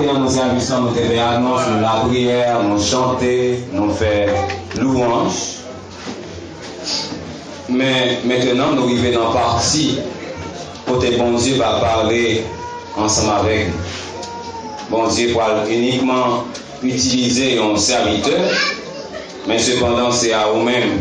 Antre nan mouman sèvis lan, nou te fè anons, nou lapriyè, nou chante, nou fè louwanj. Men, mentenan nou rive nan pati kote Bondye va pale ansanm avèk nou. Bondye pral inikman itilize yon sèvitè, men sepandan se a ou menm.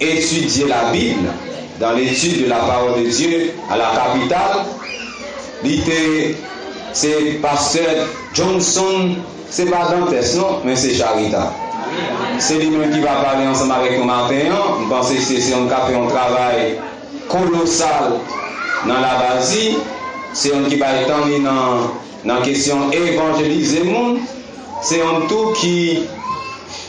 Étudier la Bible dans l'étude de la parole de Dieu à la capitale li te se Pasteur Johnson se pa Dantès non men se Charita se li menm ki va pale ansanm avèk nou maten an m panse se se yon k ap fè yon travay kolosal nan Labadi se yon ki bay tan li nan nan kesyon evanjelize moun se yon tou ki.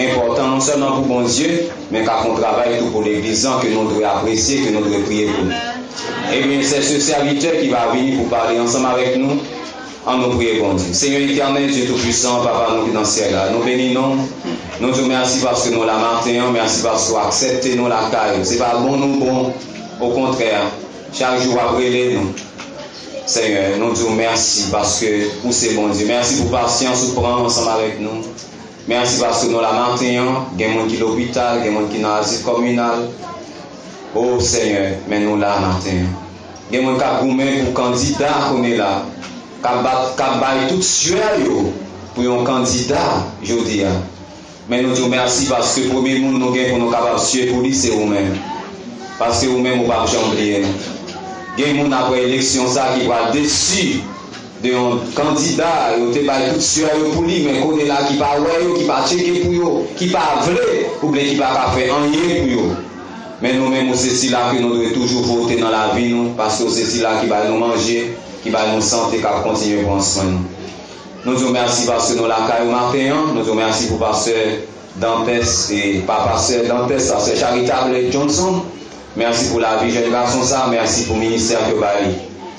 enpòtan non sèlman pou Bondye men kap yon travay tou pou legliz lan ke nou dwe apresye ke nou dwe priye pou li ebyen sè se sèvitè ki va vini pou pale ansanm avèk nou an nou priye Bondye Senyè Etènèl Dye tou pwisan papa nou ki nan syèl la nou beni non ou nou diw mèsi paske nou la maten an mèsi paske ou aksèpte nou lakay ou se pa bon nou bon okontrè chak jou wap rele nou Senyè nou diw mèsi paske ou se Bondye mèsi pou pasyans ou pran ansanm avèk nou. Merci paske nou la maten an gen moun ki lopital gen moun ki nan azil kominal oh senyè men nou la maten an gen moun kap goumen pou kandida kounye la kap bat kap bay tout suè yo pou yon kandida jodi a men nou diw merci paske premye moun nou gen pou nou kapab suè pou li se ou menm paske ou menm ou pap janm bliye nou gen moun aprè eleksyon sa ki pral desu Gen yon kandida yo te bay tout suè yo pou li men kounye la ki pa wè yo, ki pa tcheke pou yo, ki pa vle oubyen ki pa ka fè anyen pou yo. Men nou menm ou se sila ke nou dwe toujou vote nan lavi nou paske ou se sila ki bay nou manje, ki bay nou sante kap kontinye pran swen nou. Nou di w mèsi paske nou lakay ou maten an, nou di w mèsi pou pastè Dantès e pa pastè Dantès, pastè Charitable Johnson. Merci pou lavi jèn gason sa merci pou ministère ke w ba li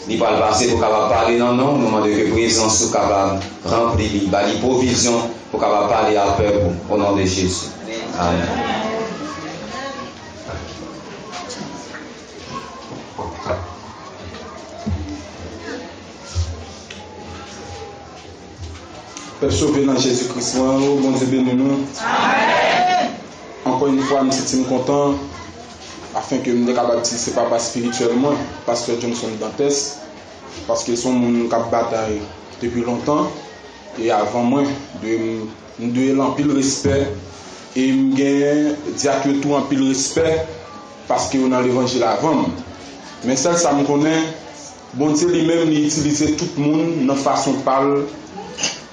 li pral pase pou kapab pale nan non w nou mande ke prezans ou kapab ranpli li ba li provizyon pou kapab pale ak pèp ou o non de Jezi amen. Pèp sove nan Jezi Kris mwen an oo Bondye beni nou. Ankò yn fwa m santi m kontan afin ke m te kapab di se papa spirityèl mwen, Pastè Johnson Dantès, paske son moun kap batay depi lontan e avan mwen, m dwe l anpil respè e m gen dyak yo tou anpil respè paske yo nan levanjil avan m. Men sèl sa m konnen. Bondye li menm li itilize tout moun nan fason pa l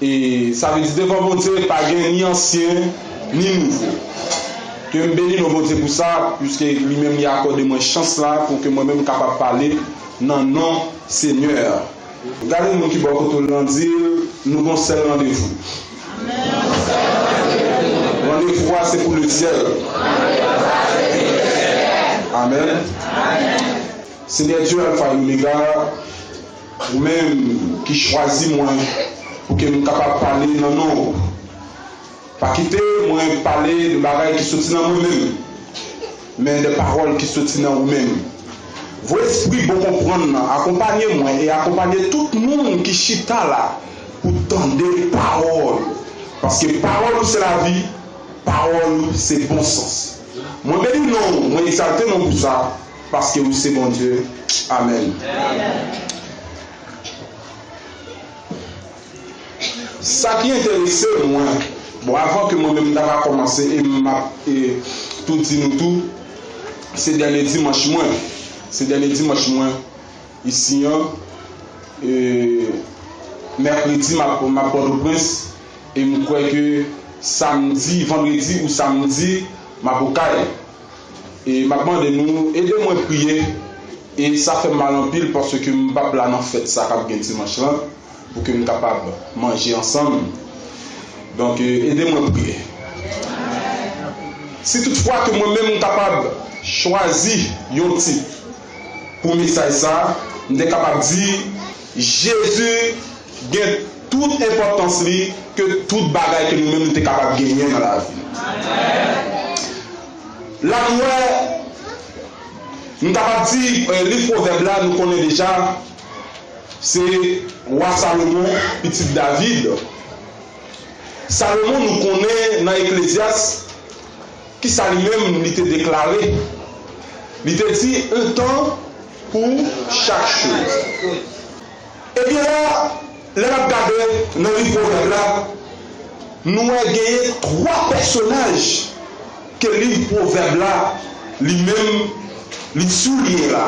e sa vle di devan Bondye pa gen ni ansyen ni nouvo. Ke m beni non Bondye pou sa puiske li menm li akòde mwen chans la pou ke mwen menm kapab pale nan non Senyè a. Gade moun ki bò kote w lan di l nou gon sèl randevou. Randevou a se pou lesyèl. Amen. Senyè Dye Alfa e Omega, ou menm ki chwazi mwen pou ke m kapab pale nan non ou, pa kite mwen pale de bagay ki soti nan mwen menm, men de pawòl ki soti nan ou menm. Voye espri bon konprann nan akonpanye mwen e akonpanye tout moun ki chita la pou tande pawòl ou, paske pawòl ou se lavi, pawòl ou se bon sans. Mwen beni non ou, mwen egzalte non ou pou sa. Paske ou se Bondye. Amen. Sa ki enterese mwen, bon avan ke mwen menm m ta ka komanse e m ap tou di nou tou, se dènye dimanch mwen, se dènye dimanch mwen isi an, e mèkredi m ap Pòtoprens e m kwè ke samdi, vandredi ou samdi m ap Okay. E map mande nou ede mwen priye e sa fèm mal anpil paske m pap la nan fèt sa kap gen dimanch lan pou ke m kapab manje ansanm donk ede mwen priye si tout fwa ke mwen menm m kapab chwazi yon tip pou mesaj sa, m te kapab di, Jezi gen tout enpòtans li ke tout bagay ke nou menm nou te kapab genyen nan lavi. La nou wè, m kapab di liv Pwovèb la nou konnen deja, se Wa Salomon, pitit David. Salomon nou konnen nan Eklezyas, Ki sa li menm li te deklare? Li te di, On tan pou chak choz. Ebyen la, lè n ap gade nan liv Pwovèb la, nou wè genyen twa pèsonaj ke liv Pwovèb la li menm li souliyen la.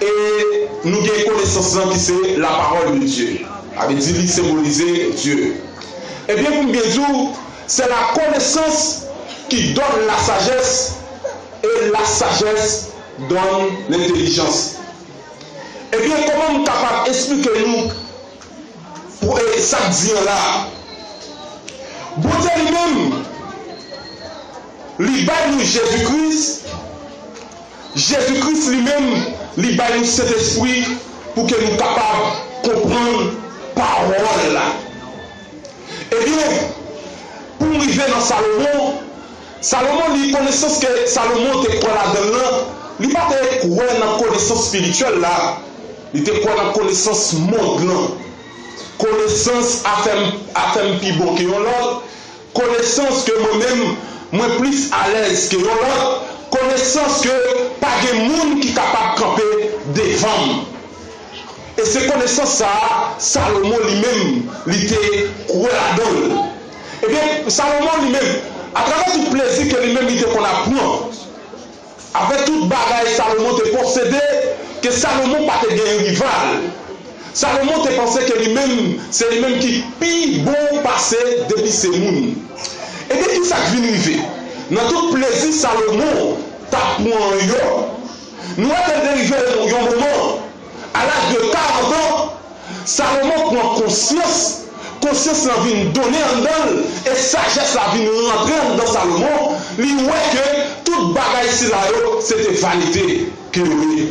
E nou gen konesans lan ki se lapawòl de Dye. Sa vle di li senbolize Dye. Ebyen pou m byen di w, se lakonesans ki dòn lasajès e lasajès dòn lentelijans. Ebyen kòman m kapab esplike nou pou e sa k di an la a? Bondye li menm li bay nou Jezi Kris. Jezi Kris li menm li bay nou Sentespri pou ke nou kapab konprann pawòl la. Ebyen, pou m rive nan Salomon, Salomon li konesans ke Salomon te kwè ladan l lan, li pa te kwè nan konesans spirityèl la, li te kwè nan konesans mond lan. Konesans a fè m a fè m pi bon ke yon lòt. Konesans ke mwen menm mwen plis alèz ke yon lòt, konesans ke pa gen moun ki kapab kanpe devan m. E se konesans sa a Salomon li menm li te kwè ladan l. Ebyen, Salomon li menm, atravè tout plezi ke li menm li te konn ap pran, Apre tout bagay Salomon te posede, ke Salomon pa te gen yon rival. Salomon te panse ke li menm, se li menm ki pi bon pase depi se moun. Ebyen ki sa k vin rive? Nan tout plezi Salomon t ap pran yo, nou wè ke l te rive yon moman, A laj de karant an, Salomon pran konsyans, konsyans lan vin donnen anndan l e sajès la vin rantre anndan Salomon, li wè ke tout bagay sila yo se te vanite ke yo ye.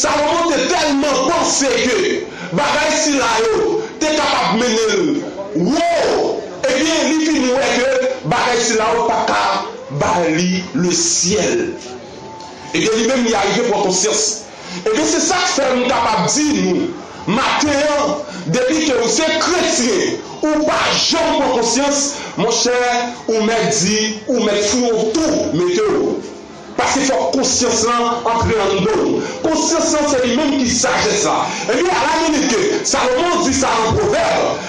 Salomon te tèlman panse ke bagay sila yo te kapab mennen l wo, ebyen li fin wè ke bagay sila yo pa ka ba li lesyèl. Ebyen li menm li arive pran konsyans. Ebyen se sak fè m kapab di nou maten an depi ke ou se kretyen ou pa janm pran konsyans monchè ou mèt di ou mèt foure w tou mete w. Paske fòk konsyans lan antre anndan w. Konsyans lan se li menm ki sajès la. Ebyen ala menm ke Salomon di sa nan pwovèb.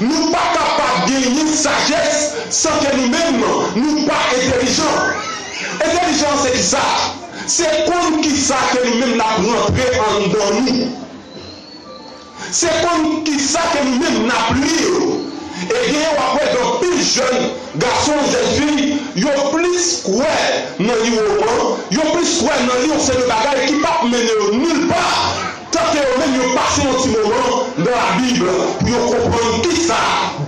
Nou pa kapab genyen sajès san ke nou menm nou pa entelijan. Entelijan an se kisa? Se konn kisa ke nou menm nap rantre anndan nou. Se konn kisa ke nou menm nap lir. E genyen wap wè gen anpil jèn gason, jèn fi, yo plis kwè nan li woman, yo plis kwè nan li yon seri de bagay ki pap mennen yo nil pa. Tanke yo menm yo pase yon ti moman nan Labib pou yo konprann ki sa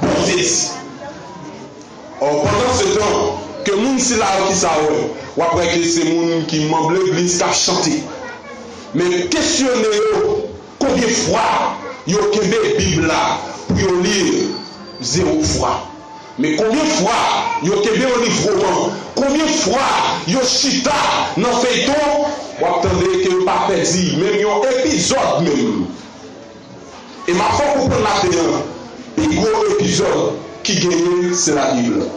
Bondye di. Ò, pandansetan, ke moun sila yo ki sa wè, w ap wè ke se moun ki manb legliz k ap chante. Men, kesyone yo konbyen fwa yo kenbe Bib la pou yo li l. Zewo fwa. Men konbyen fwa yo kenbe olive roman konbyen fwa yo chita nan feyton wap tande ke yo pa pèdi menm yon epizòd menm e map fè w konprann maten an pi gwo epizòd ki genyen se la bible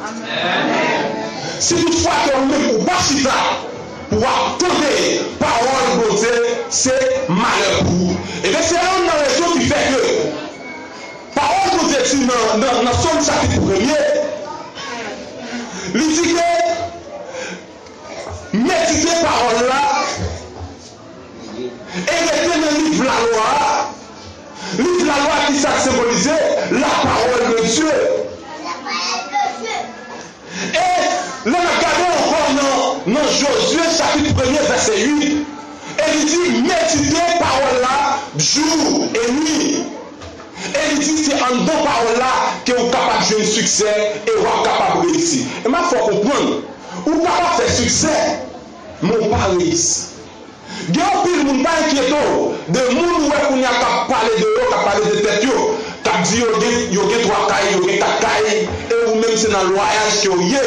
si tout fwa ke ou menm ou pa chita pou wap tande pawòl bondye se malè pou ou e ben se youn nan rezon ki fè ke. Pawòl Bondye di nan Sòm chapit premye, li di ke medite pawòl la e rete nan liv lalwa a, liv lalwa a ki sa l senbolize? Lapawòl de Dye. E, lè n ap gade ankò nan nan Jozye chapit premye vèsè 8, e li di, Medite pawòl la jou e nwi. E li di se anndan pawòl la ke ou kapab jwenn siksè e w ap kapab reyisi. E m ap fè w konprann, ou kapab fè siksè, men w pa reyisi. Gen anpil moun, pa enkyete w de moun ou wè kounye a k ap pale de yo, k ap pale de tèt yo, k ap di yo gen yo gen 3 kay, yo gen 4 kay e ou menm se nan lwayaj ke w ye.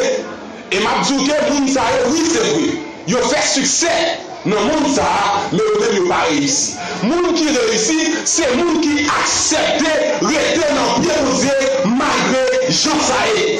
E m ap di w ke moun sa yo, wi se vre, yo fè siksè nan mond sa a, men yo menm yo pa reyisi. Moun ki reyisi, se moun ki aksepte rete nan pye Bondye malgre jan sa ye.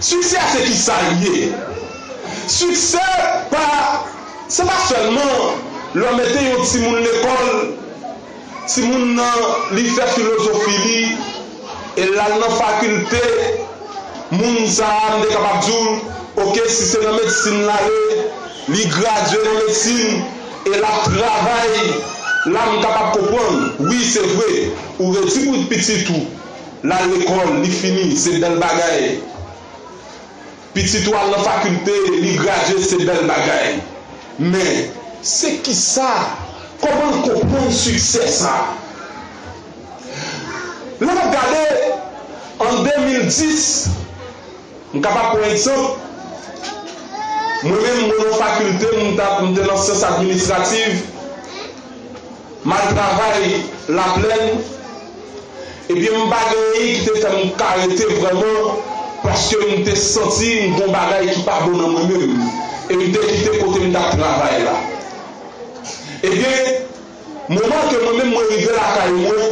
Siksè se ki sa li ye? Siksè pa, se pa sèlman lè w mete yon timoun lekòl, timoun nan li fè filozofi li e l al nan fakilte, moun sa a m te kapab di w ok si se nan medsin l ale, li gradye nan medsin e l ap travay, la m kapab konprann wi se vre ou redi pou pitit ou. L al lekòl, li fini, se bèl bagay. Pitit ou al nan fakilte, li gradye, se bèl bagay. Men, se ki sa? Kòman l konprann siksè sa a? Lè n ap gade, an 2010, m kapab pran egzanp, mwen menm, mwen nan fakilte, m te nan syans administrativ, Mal travay la plèn ebyen m pa gen anyen ki te fè m ka rete vrèman paske m te santi m gon bagay ki pa bon nan mwen menm e m te kite kote m t ap travay la ebyen moman ke mwen menm mwen rive lakay mwen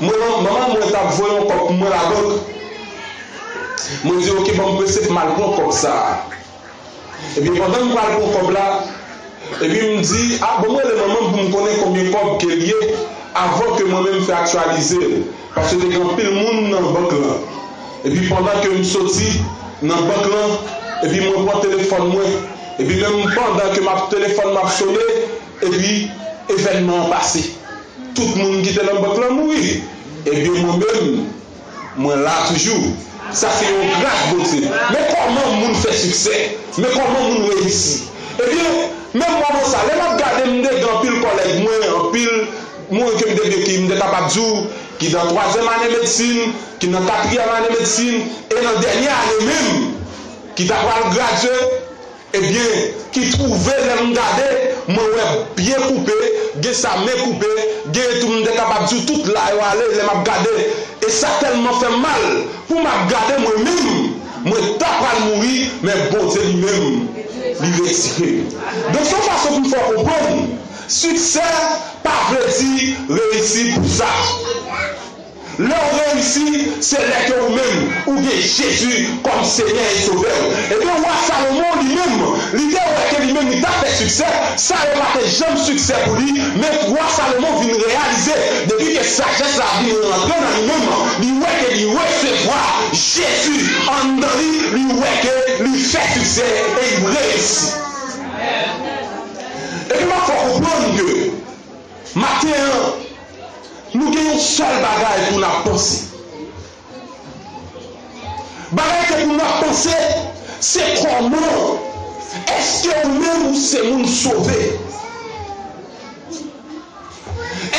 manman manman mwen t ap voye yon kòb pou mwen labank mwen di ok ban m prese pou m al pran kòb sa. Ebyen pandan m pral pran kòb la Ebyen m di ah banm rele manman m pou m konnen konbyen kòb ke l ye avan ke mwen menm fè aktyalize l paske te gen anpil moun nan bank lan Ebyen pandan ke m soti nan bank lan Ebyen mwen pran telefòn mwen Ebyen menm pandan ke m ap telefòn m ap sone Ebyen evènman an pase Tout moun ki te nan bank lan mouri Ebyen mwen menm Mwen la toujou. Sa se yon gras Bondye. Men kòman moun fè siksè. Men kòman moun reyisi. Ebyen, menm mwen bon sa. Lè m ap gade m, m te gen anpil kòlèg mwen, anpil moun ke m te byen ki m te kapab di w ki nan twazyèm ane medsin, ki nan katriyèm ane medsin e nan dènye ane menm ki ta pral gradye. Ebyen ki trouve lè m gade mwen wè byen koupe gen sa men koupe genyen tou m te kapab diw tout la yo ale lè map gade e sa tèlman fèm mal pou map gade mwen menm mwen ta pral mouri men Bondye li menm li retire m donk son fason pou m fè w konprann siksè pa vle di reyisi pou sa. Lè ou reyisi, se lè ke ou menm, ou gen Jezi kòm Senyè e Sovè ou. Ebyen, Wa Salomon, li menm, li te wè ke li menm li t ap fè siksè, sa yo pa te janm siksè pou li, men Wa Salomon vin reyalize, depi ke sajès la vin rantre nan li menm, li wè ke li resevwa Jezi anndan li, li wè ke li fè siksè e li reyisi. Ebyen, m ap fè w konprann ke. Maten an, nou gen yon sèl bagay pou n ap panse. Bagay ke pou nou ap panse, se kòman èske ou menm ou se moun sove?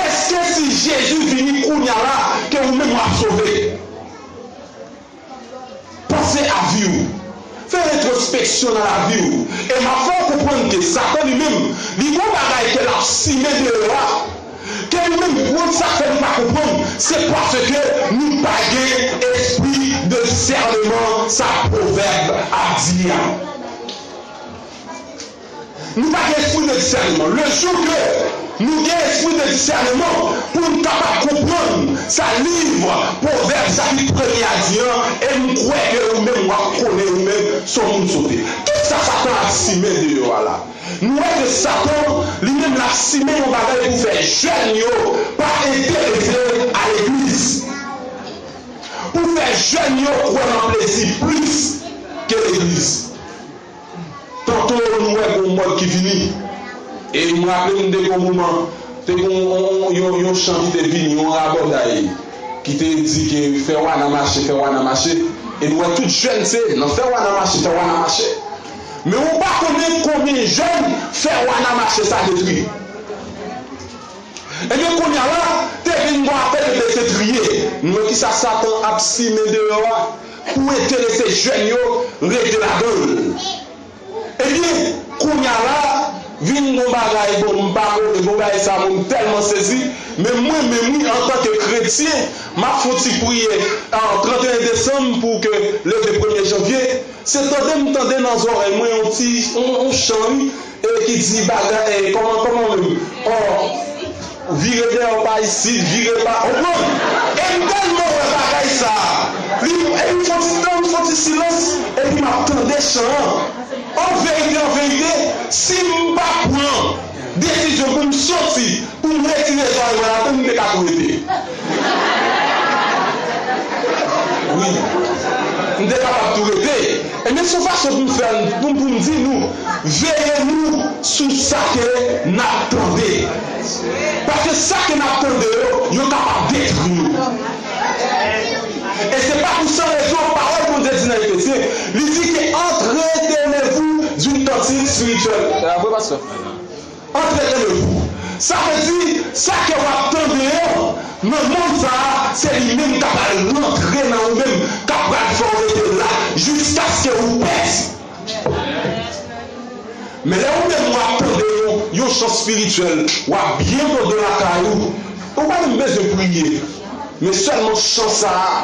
Èske si Jezi vini kounye a la ke ou menm ou ap sove? Panse a vi w. Fè retrospeksyon nan lavi w. E m ap fè w konprann ke Satan li menm, li gon bagay ke l ap simen deyò a, ke nou menm moun sa fè nou pa konprann, se paske nou pa gen espri de disèneman sa pwovèb ap di a. Nou pa gen espri de disèneman. Le jou ke nou gen espri de disèneman pou n kapab konprann sa liv Pwovèb chapit premye a di an, e m kwè ke ou menm w ap konnen ou menm si w moun sote. Ki sa Satan ap simen deyò a la? Nou wè ke Satan li menm l ap simen yon bagay pou fè jèn yo pa enterese a legliz, pou fè jèn yo kwè nan plezi plis ke legliz. Tanto m wè gon mòd ki vini e m raple m de gon moman te gon yon yon chan ki te vini, yon rabòday ki te di ke fè wana mache, fè wana mache e n wè tout jèn se nan fè wana mache, fè wana mache men ou pa konnen konbyen jèn fè wana mache sa detwi. Ebyen kounya la te vin gon afè de bese triye, n wè kisa satan ap simen deyò a. Pou enterese jèn yo rete ladan l. Ebyen kounya la vin gon bagay bon m pa konnen bon bagay sa bon m tèlman sezi men mwen menm wi antan ke kretyen m ap fon ti priyè 31 desanm pou ke leve premye janvye se tande m tande nan zòrèy mwen yon ti yon chan wi E ki di baga eh kòman kòman menm oh vire dèyè w pa isit vire pa ou konprann e m tèlman wè bagay sa li epi fon ti tan fon ti silans epi m ap tande chan an an verite an verite si m pa pran desizyon pou m soti pou m retire zòrèy mwen ladan m te ka tou rete. Wi. M te kapab tou rete. Ebyen son fason pou m fè n pou pou m di nou veye nou sou sa ke n ap tande. Paske sa ke n ap tande yo, yo kapab detwi nou. E se pa pou san rezon pawòl Bondye di nan Efesyen, li di ke entretenez-vous d'une tantine spirituelle. Vre pastè? Antre nan yo tou. Sa vle di, sa kè w ap tan deyò, nan monn sa a, se li menm k ap al rantre nan ou menm, k ap pral fè w rete la jiskaske ou pèdi. Men lè ou menm ou ap tande yon yon chan spirityèl, w ap byen kontan lakay ou. Ou pa menm bezwen priye, men sèlman chan sa a.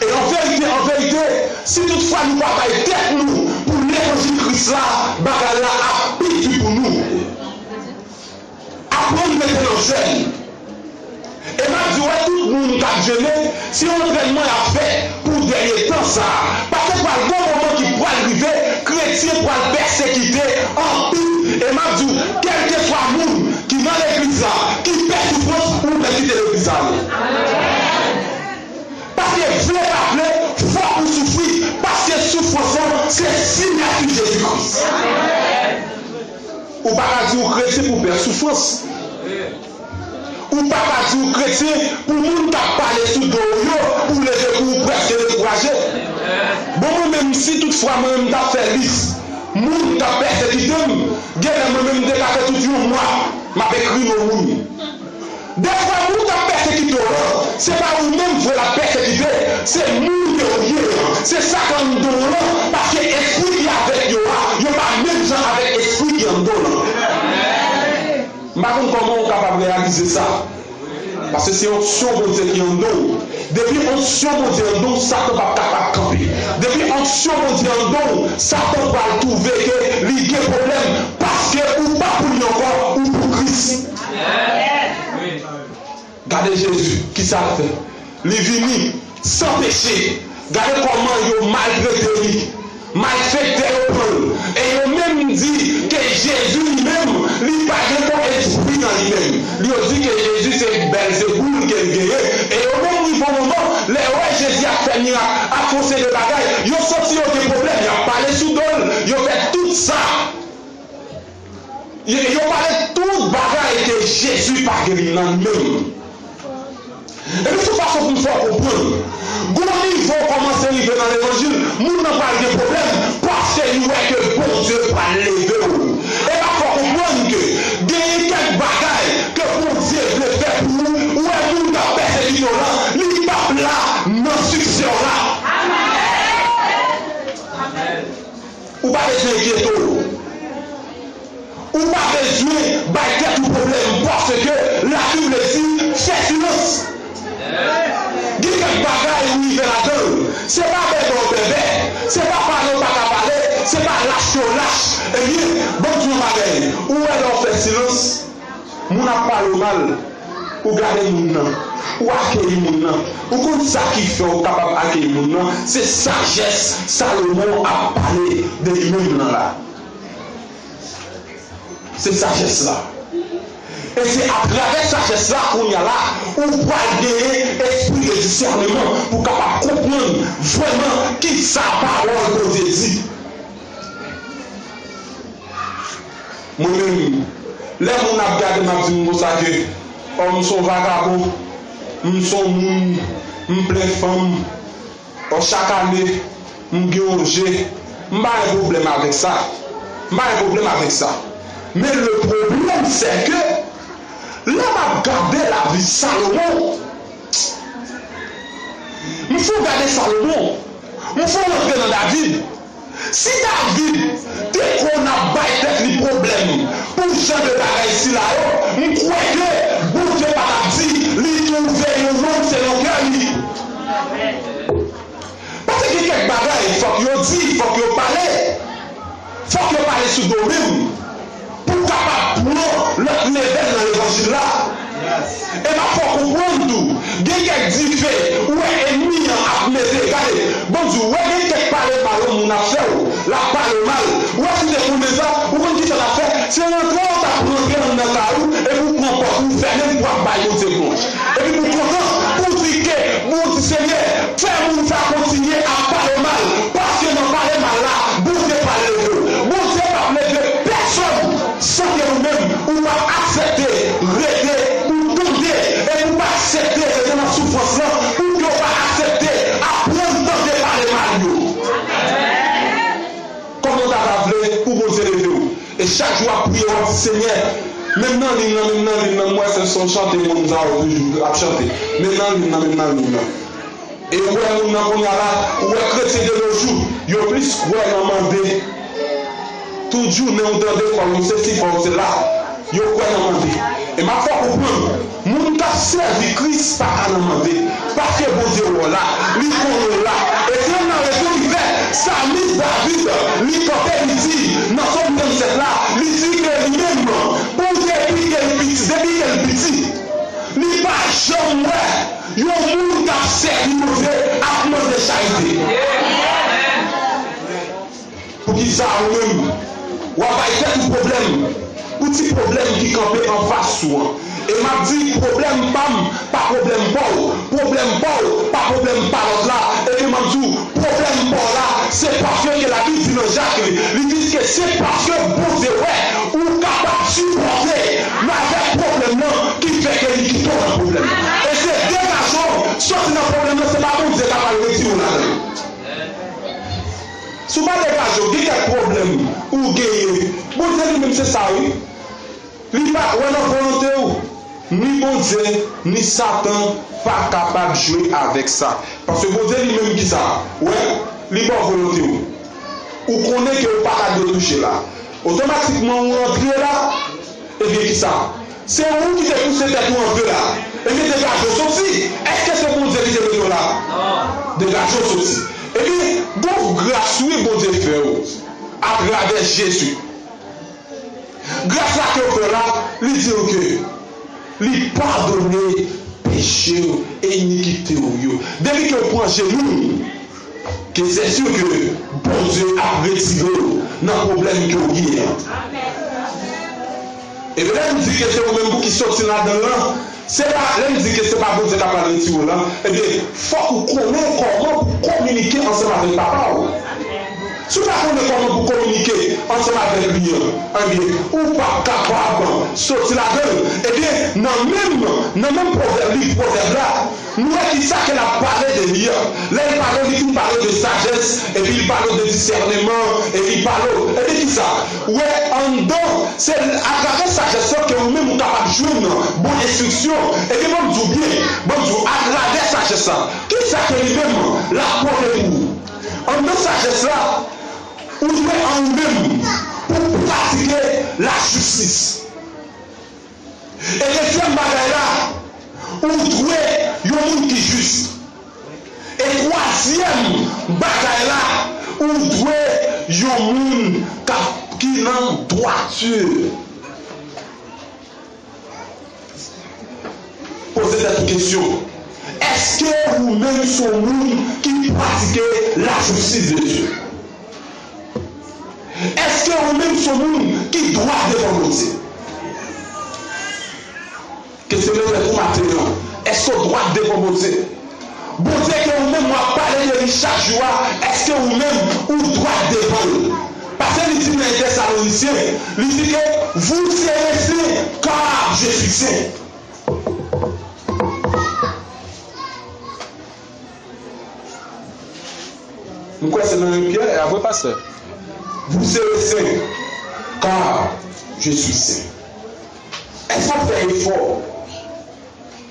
E an verite, an verite, si tout fwa nou pa bay tèt nou pou levanjil Kris la, bagay la ap pi di pou nou. Aprann mete nan zèn. E map di ou a tout moun kap jene, se yon antrènman yap fè pou dènye tan sa a, pase pral gon moman ki pral rive kretyen pral pèsekite anpil e map di ou kèlkeswa moun ki nan legliz la ki pè soufrans ou pèkite legliz sa wi. Paske vle pa vle fòk ou soufri paske soufrans lan se sinyati Jezi Kris. Ou pa ka di ou kretyen pou bèf soufrans. Ou pa ka di ou kretyen pou moun k ap pale sou do ou yo pou leve kou ou prèske dekouraje. Bon mwen menm si tout fwa mwen menm t ap fè lis moun k ap pèsekite m, genlè mwen menm m te ka fè tout yon mwa m ap ekri non moun. Dèfwa moun kap pèsekite w lan se pa ou menm vre lap pèsekite, se moun ke ou ye an, se sak anndan w lan, paske espri ki avèk yo a, yo pa menm jan avèk espri ki anndan w lan. M pa konn kòman ou kapab reyalize sa, paske se onksyon Bondye ki anndan w, depi onksyon Bondye anndan w satan pap kapab kanpe, depi onksyon Bondye anndan w satan pral twouve ke li gen pwoblèm, paske ou pa pou li ankò, ou pou Kris. Gade Jezi, ki sa l fè? Li vini san peche. Gade kòman yo maltrete li. Malfektè yo pran l. E yo menm di ke Jezi li menm, li pa gen bon espri nan li menm. Yo di ke Jezi se Bèlzeboul ke l genyen. E yo menm rive yon moman, lè yo wè Jezi ap fè mirak, ap fè yon seri de bagay, yo santi yo gen pwoblèm. Y ap pale sou do l. Yo fè tout sa. Yo pale tout bagay ke Jezi pa geri nan menm. Epi sou fason pou m fè w konprann, gon nivo kòmanse rive nan levanjil, moun nan pral gen pwoblèm paske li wè ke Bondye pral leve w. Epa fè w konprann ke genyen kèk bagay ke Bondye vle fè pou ou, ou wè moun kap pèsekite w lan, li pap la nan siksè w la. Ou pa bezwen enkyete w. Ou pa bezwen bay tèt ou pwoblèm paske lavi vle di fè silans. Gen kèk bagay ou rive ladan l. Se pa bèbè w bèbè, se pa pale w pa ka pale, se pa lach ke w lach. Ebyen, ban m di w yon bagay, ou wè lè w fè silans, Moun ap pale w mal, ou gade moun nan, ou akeyi moun nan. Ou konn sa ki fè w kapab akeyi moun nan? Se sajès Salomon ap pale de li menm lan la. Se sajès la. E se atravè sajès la kounye a la ou pral genyen espri de disèneman pou w kapab konprann vrèman ki sa pawòl Bondye di. Mwen menm lè moun ap gade m ap di m konsa ke ò m son vagabon, m son moun, m plen fanm, ò chak ane m gen yon je, m pa gen pwoblèm avèk sa, m pa gen pwoblèm avèk sa. Men le pwoblèm sè ke lè m ap gade lavi Salomon, m fon gade Salomon, m fon rantre nan David. Si David te konn ap bay tèt li pwoblèm pou jan de bagay sila yo, m kwè ke Bondye pa t ap di li twouve yon nonm selon kè li. Paske gen kèk bagay fòk yo di, fòk yo pale, fòk yo pale sou do menm. pou kapab pran lòt levèl nan levanjil la. Epa fè w konprann tou gen kèk dife ou wè enmi an ap mete gade bon di w wè gen kèk pale mal yon moun ap fè w lap pale w mal ou wè si w te konnen sa ou konn kisa w tap fè se rantre w tap rantre anndan kay ou epi w pran pòt ou fèmen l pou ap bay Bondye glwa epi pou w kontan pou w di ke Bondye Senyè fè moun sa kontinye ap pale w mal paske nan pale mal la Bondye pral leve w Bondye pap leve pèsòn san ke ou menm ou pa aksepte rete ou tande e pou pa aksepte rete nan soufrans lan ou ke ou pa aksepte aprann tande pale mal yo. Kòman ou ta va vle pou Bondye leve ou e chak jou wap priye wap di Senyè menm nan lin lan menm nan lin lan m wè se son chante moun sa yo toujou ap chante menm nan lin lan menm nan lin lan. E ou wè moun nan kounya la, ou wè kretyen de nos jours, yo plis kwè nan mande. Tout jounen ou tande fò nou sesi fò nou sela, yo kwè nan mande. E map fè w konprann, moun kap sèvi Kris pa ka nan mande, paske Bondye wè w la, li konnen w la. E se youn nan rezon ki fè salmis David, li kante li di nan Som 37 la, li di ke li menm pou depi ke li piti, depi ke li piti, li pa janm wè. Yon moun kap sèvi Bondye ap mande charite. Poukisa ou menm wap bay tèt ou pwoblèm pou ti pwoblèm ki kanpe anfas ou an? E map di pwoblèm pam pa pwoblèm paw, pwoblèm paw pa pwoblèm pa lòt la, epi map di w Pwoblèm paw la se paske ke labib di nan jak li li di ke se paske Bondye wè ou kapab sipòte m avèk pwoblèm nan ki fè ke li kite w nan pwoblèm e se degaje w sòti nan pwoblèm nan se pa Bondye ka pral retire w ladan l si w pa degaje w gen kèk pwoblèm ou genyen Bondye li menm se sa wi. Li pa kwè nan volonte ou. Ni Bondye, ni Satan pa kapab jwe avèk sa. Paske Bondye li menm ki sa? Ou wè? Li ba w volonte ou. Ou konnen ke ou pa ta dwe touche la. Otomatikman ou antre la. Ebyen ki sa? Se ou ki te pouse tèt ou antre la. Ebyen degaje w soti. Eske se Bondye ki te mete w la? Degaje w soti. Ebyen gon gras wi Bondye fè ou atravè Jezi. Gras la ke w fè la, li di w ke li padone peche w e inikite w yo. Depi ke w pran Jezi, ke sè sur ke Bondye ap retire w nan pwoblèm ke w gen an. E petèt ou di ke se ou menm pou ki soti ladan l lan. Se pa, lè m di ke se pa Bondye ka pral retire w lan, ebyen, fòk ou konnen kòman pou w kominike ansanm avèk Papa w. Si w pa konnen kòman pou w kominike ansanm avèk li an, ebyen, ou p ap kapab soti ladan l. Ebyen, nan menm, nan menm pwovèb, liv Pwovèb la, nou wè ki sa ke l ap pale de li an. Lè l pale w, li fin pale w de sajès, epi li pale w de disèneman, e li pale w, ebyen, ki sa? wè anndan, se atravè sajès lan ke ou menm ou kapab jwenn bon enstriksyon, ebyen banm di w byen, banm di w atravè sajès la, kisa ke li menm lap pote pou ou? Anndan sajès la, ou dwe an ou menm pou w pratike lajistis. E dezyèm bagay la, ou dwe yon moun ki jis. E twazyèm bagay la, ou dwe yon moun k ap, ki nan dwati. Poze tèt ou kesyon, Èske ou menm se yon moun ki pratike lajistis de Dye? Eske ou menm son moun ki dwat devan Bondye? Kesyon mwen fèt ou maten an, eske ou dwat devan Bondye? Bondye ke ou menm wap pale de li chak jou a, eske ou menm ou dwat devan l? Pase li di nan Etesalonisyen, li di ke vous serez saint car je suis saint. M kwè se nan yon pyè a vre pastè. Vous serez saints, car je suis saint. Èske w ap fè efò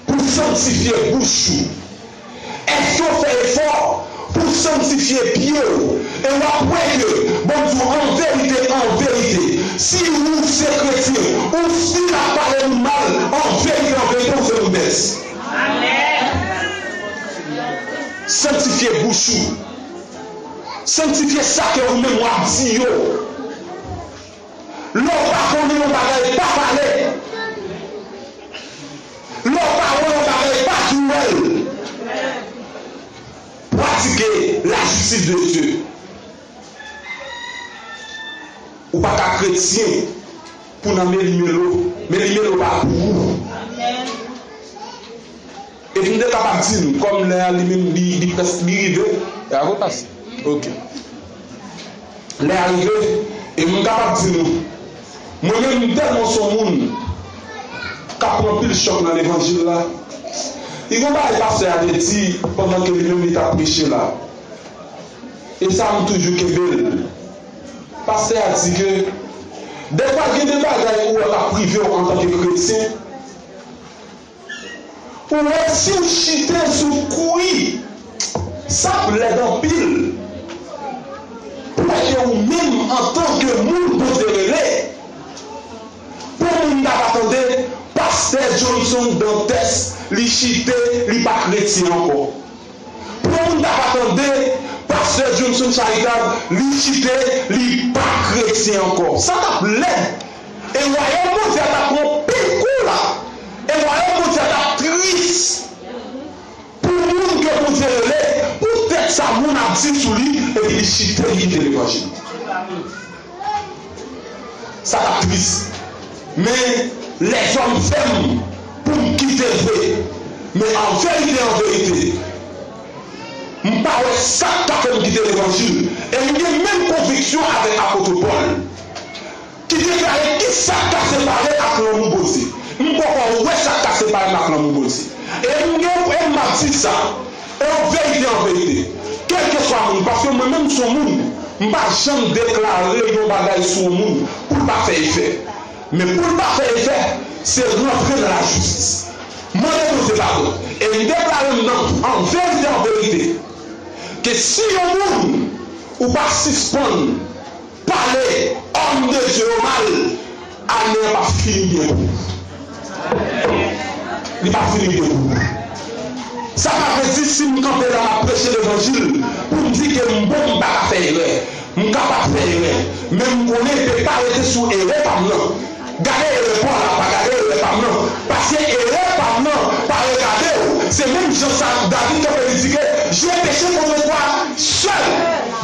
pou w sanntifye bouch ou? Èske w fè efò pou w sanntifye pye w e w ap wè ke Bon di w an verite, an verite, si ou se kretyen, ou stil ap pale nou mal, an verite, an verite, ou se yon bèt. Sanktifye bouch ou. Sanktifye sa ke ou menm wap di yo. Lè w pa konnen yon bagay pa pale. Lè w pa wè yon bagay pa tou wè l. Pratike lajistis de Dye. Ou pa ka kretyen. Pou nan meli melo meli melo pa pou ou e m te kapab di nou kòm lè a li menm li li prèsk li rive lè a repase ok lè a rive e m kapab di nou mwen menm m tèlman s on moun k ap pran anpil chòk nan levanjil la li gen yon bagay pastè a te di pandan ke li menm li t ap preche la e sa m toujou kenbe l Pastè a di ke, Dèfwa gen de bagay ou wè k ap rive w antanke kretyen. Ou wè si w chite sou kwi, sa ap lèd anpil pou wè ke ou menm antanke moun Bondye rele, pou moun ta va tande Pastè Johnson Dantès li chite, li pa kretyen ankò. Pou moun ta pa tande pastè Jhonson Charitab li chite li pa kretyen ankò. Sa t ap lèd e wayòm Bondye a t ap pran pil kou la e wayòm Bondye a t ap tris pou moun ke Bondye rele pou tèt sa moun ap di sou li epi li chite li kite levanjil. Sa tap tris men lèzòm fèm poum kitel vre men anverite anverite m pa wè sak ka fèm kite levanjil e m gen menm konviksyon avèk apotre Paul ki deklare kisak ka separe ak lanmou Bondye m poko wè sak ka separem ak lanmou Bondye e m gen e map di sa. E an verite an verite, kèlkeswa moun, paske mwen menm m son moun, m pa janm deklare yon bagay sou yon moun pou l pa fè efè. Men pou l ta fè efè, se rantre nan lajistis. M mande Bondye padon e m deklare m nan an verite an verite ke si yon moun ou pa sispann. Pale homme de Dieu yo mal ane an pap fini byen pou nou. Li pap fini byen pou nou. Sa pa vle di si m kanpe la map preche levanjil pou m di ke m bon m pa ka fè erè. M kapab fè erè men m konnen m pe pa rete sou erè pa m nan. Gade erè pwa la pa gade erè pam nan paske erè pam nan pa regadew se menm jan sa David kanpe li di ke je peche contre toi seul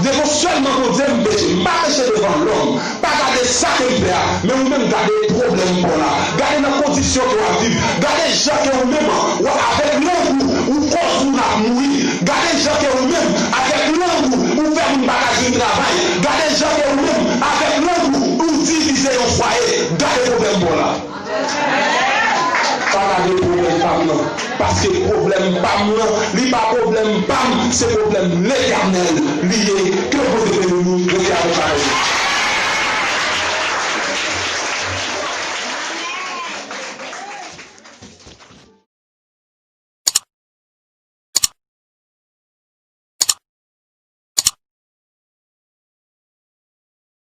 devan selman Bondye m peche m pa peche devan lòm pa gade sa kem fè a men ou menm gade pwoblèm paw la gade nan kondisyon ke wap viv gade jan ke ou menm wa avèk lang ou ou koz moun ap mouri gade jan ke ou menm avèk lang ou ou fè moun paka jwenn travay gade jan ke ou menm avèk lang ou Ou divize yon fwaye gade problèm paw la. Pa gade problèm pam nan paske problèm pam nan li pa problèm pam se problèm letènèl li ye ke bondye beni nou rete avèk pawòl yo.